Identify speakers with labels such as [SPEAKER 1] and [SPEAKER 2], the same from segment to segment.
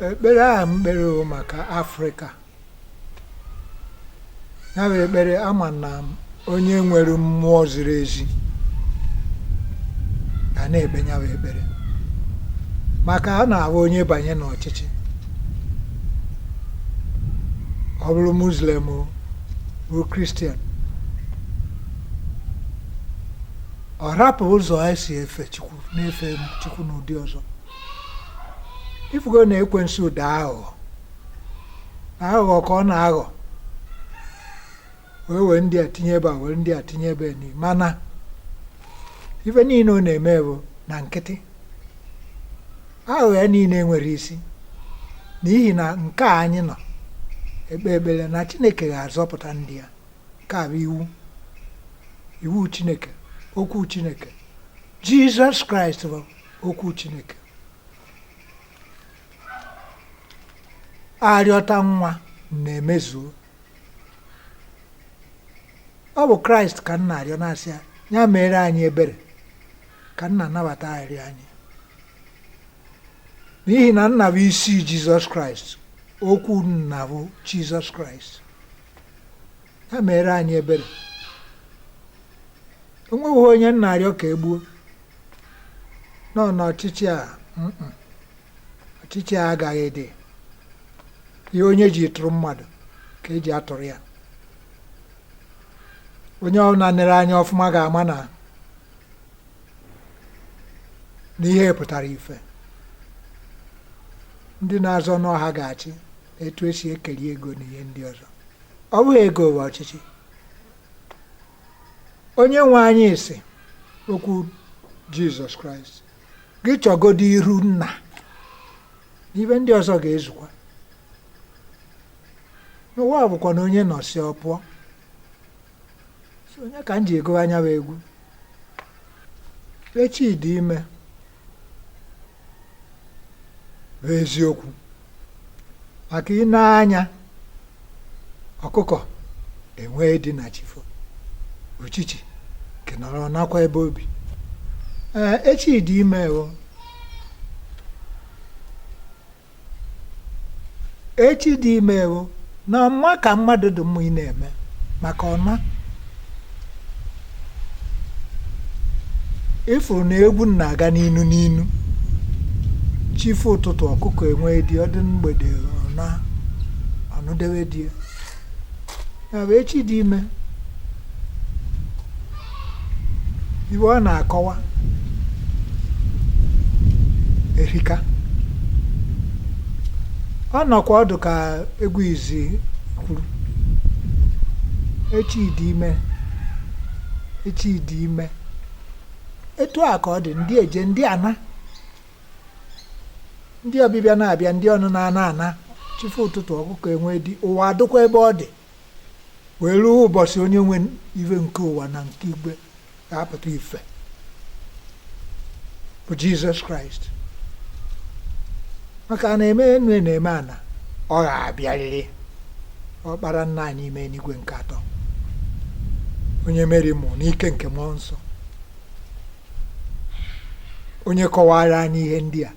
[SPEAKER 1] ekpere ahụ m kpere o maka afrịka ya bụ ekpere ama na m onye nwere mmụọ ziri ezi ga na-ekpe ya bụ ekpere maka a na-ahụ onye banye n'ọchịchị ọ bụrụ muslim ọ bụrụ kristian ọ rapụ ụzọ anyị si efe chukwu na-efe chukwu n'ụdị ọzọ ị fụgo na ekwensu dị aghụghọ na aghụghọ ka ọ na-aghọ wee were ndị a tinye ebe a were ndị a tinye ebe ni mana ife niile ọ na-eme bụ na nkịtị aghụghọ ya niile enwerọ isi n'ihi na nke a anyị nọ ekpe ekpere na chineke ga-azọpụta ndị ya nke a bụ iwu iwu chineke okwu chineke jizọs kraịst bụ okwu Chineke a rịọta nwa nna emezuo ọ bụ kraịst ka m na-arịọ na-asị ya ya meere anyị ebere ka nna nabata arịrịọ anyị n'ihi na nna bụ isi jizọs kraịst okwu nna bụ jizọs kraịst ya meere anyị ebere o nweghị onye m na-arịọ ka e gbuo nọ n'ọchịchị a ọchịchị a agaghị adị ihe onye ji tụrụ mmadụ ka e ji atụrụ ya onye ọbụla nere anya ọfụma ga-ama na na ihe pụtara ife ndị na-azọ na ọ ha ga-achị etu e si ekeri ego na ihe ndị ọzọ ọ bụghị ego bụ ọchịchị onye nwe anyị sị okwu jizọs kraịst gị chọgodo iru nna na ife ndị ọzọ ga-ezukwa na ụwa bụkwanụ onye nọsịa ọ pụọ ya ka m ji agụ ya bụ egwu echi dị ime bụ eziokwu maka ị nee anya ọkụkọ enwee di na chi fo uchichi nke nọrọ nakwa ebe o bi ee echi dị ime o echi dị ime ewo na ọma ka mmadụ dị mma ị na-eme maka na ị fụrụ na egwu na-aga n'inu n'inu chi fo ụtụtụ ọkụkọ enwee di ọ dị mgbede ọ naa ọnụ dewe di ya ya bụ echi dị ime ife ọ na-akọwa erika ọ nọkwa ọ dị ka egwu izi kwuru echi dị ime echi dị ime etu a ka ọ dị ndị eje ndị ana ndị ọbịbịa na-abịa ndị ọnụna na-ana chi fo ụtụtụ ọkụkọ enwee di ụwa adịkwa ebe ọ dị wee ruo ụbọchị onye nwe ife nke ụwa na nke igwe ga-apụta ife bụ jizọs kraịst maka a na-eme enu a na-eme ana ọ ga-abịarịrị ọkpara nna anyị ime n'igwe nke atọ onye meri mụ n'ike nke mmụọ nsọ onye kọwara anyị ihe ndị a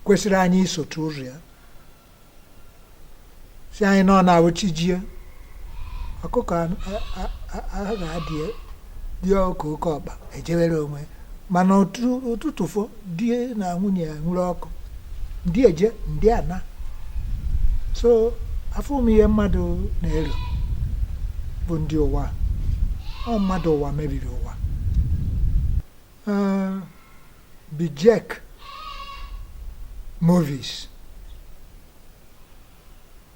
[SPEAKER 1] kwesịrị anyị isotu ụzọ ya sị anyị na ọ na-awụ chi jie ọkụkọ ahụ ga-adị dị ọkụ oke ọkpa ejewere onwe mana ụtụtụ fo di na nwunye ya nwụrụ ọkụ ndị eje ndị ana so afụ m ihe mmadụ na-ero bụ ndị ụwa ọ mmadụ ụwa mebiri ụwa Ee, bijek movies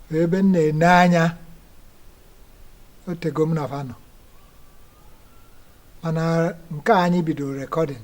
[SPEAKER 1] bụ ebe m na-ene anya otego m na fa nọ mana nke a anyị bidoro rekọdịn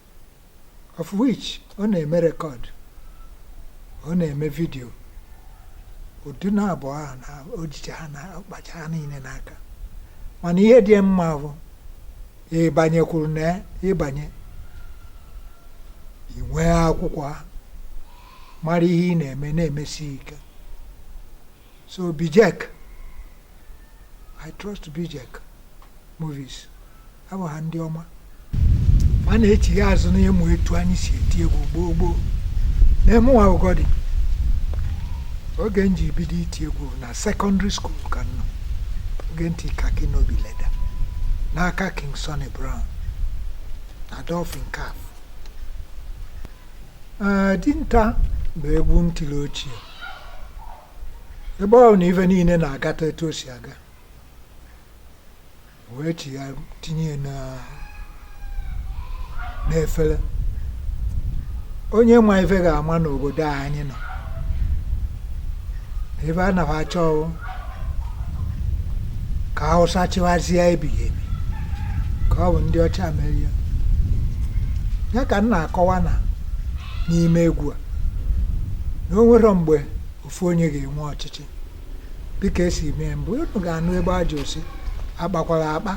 [SPEAKER 1] of which ọ na-eme rekọd ọ na-eme vidio ụdị na abụọ ahụ na o jicha ha na ọ kpacha ha niile n'aka mana ihe dị mma bụ ịbanyekwuru na ya ịbanye i nwee akwụkwọ ahụ mara ihe ị na-eme na-emesi ike so bijek i trust bijek movies abụ ha ndị ọma ma a na-echigha azụ n'ịmụ etu anyị si eti egwu gboo gboo na mụnwa godi oge m ji bido iti egwu na sekọndịrị skuul ka m nọ oge m ti kaki n'obi leda n'aka king sonny brown na dolphin cafe dinta bụ egwu m tiri ochie ebe ọ na ife niile na-agata etu o si aga wee chi ya tinye ya na- n'efere onye ma ife ga-eme n'obodo a anyị nọ ebe a na fa achọ ọ wụ ka hausa chịwazie ebighị ebi ka ọ bụ ndị ọcha merie ya ka m na-akọwa na n'ime egwu a na o nwere mgbe ofu onye ga-enwe ọchịchị dịka esi mee mbụ unu ga-anụ ebe aja osi akpakwara akpa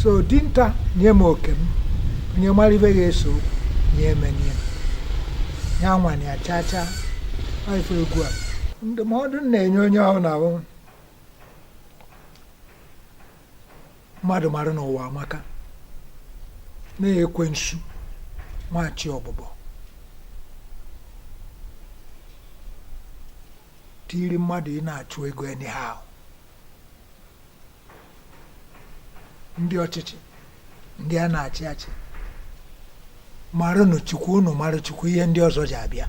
[SPEAKER 1] so dinta nye m oke m onye mara ibe ga-eso nye emenye ya nwanye ya chaa chaa ife egwu a ndụmọdụ m na-enye onye ọbụna bụ mmadụ mara na ụwa amaka na ekwensu nwachi ọbụbọ tiri mmadụ ị na-achụ ego anyhow ndị ọchịchị ndị a na-achị achị maranụ chukwu unu mara chukwu ihe ndị ọzọ ji abịa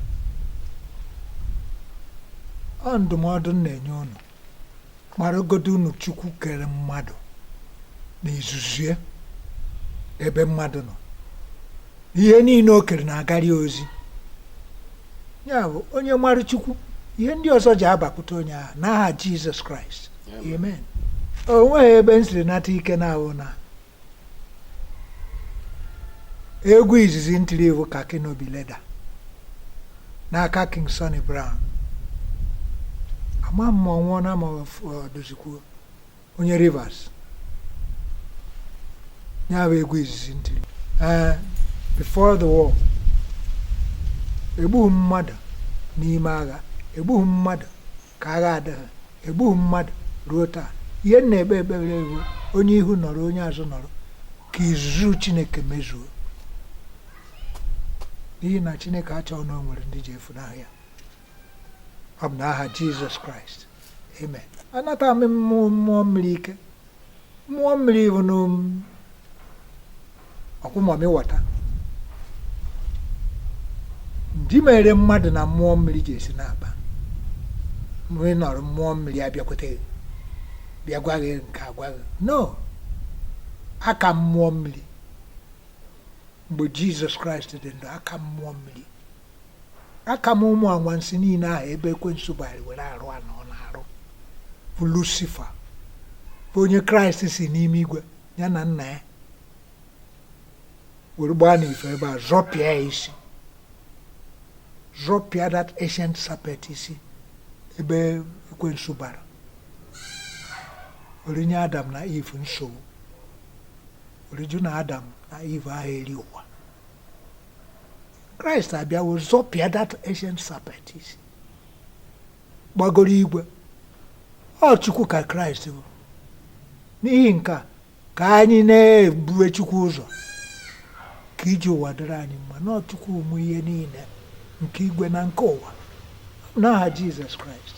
[SPEAKER 1] ọ ndụmọdụ m na-enye unu maragodo unu chukwu kere mmadụ na izuzu ebe mmadụ nọ ihe niile o kere na-agari ozi ya bụ onye mara chukwu ihe ndị ọzọ ji abakwute onye ahụ n'aha jizọs kraịst amen o nweghị ebe m siri nata ike na ahụ na egwu izizi m tiri bụ khaki no be leather n'aka king sonny brown ama m ma ọ nwụọna ma ọ dịzikwa onye rivers ya bụ egwu izizi m tiri ee before the war egbughị m mmadụ n'ime agha egbughị m mmadụ ka agha adịghị egbughị m mmadụ ruo taa ihe m na-ekpe ekpere wụ onye ihu nọrọ onye azụ nọrọ ka izuzu chineke mezuo n'ihi na chineke achọghị na o nwere ndị ji efunahụ ya ọ bụ n'aha jizọs kraịst amen anata m mmụọ mmụọ mmiri ike mmụọ mmiri ihe unu na-eku mamịwọta ndị mere mmadụ na mmụọ mmiri ji esi na-akpa mgbe ị nọrọ mmụọ mmiri abịakwute gị bịa gwa gị nke agwa gị no aka m mmụọ mmiri ebe jizọs kraịst dị ndụ aka m mmụọ mmiri aka m ụmụ anwansi niile ahụ ebe ekwensu bara were arụ a na ọ na-arụ bụ lusifa bụ onye kraịst si n'ime igwe ya na nna ya were gbaa n'ife bịa zọpịa ya isi zọpịa that ancient serpent isi ebe ekwensu bara were nye adam na iv nsogbu were jụ na adam na iv aha eri ụwa kraịst abịawo zọpịa that ancient serpent isi gbagoro igwe ọ chukwu ka kraịst bụ n'ihi nke a ka anyị na-ebue chukwu ụzọ ka ije ụwa dịrị anyị mma na ọ chukwu nwe ihe niile nke igwe na nke ụwa n'aha jizọs kraịst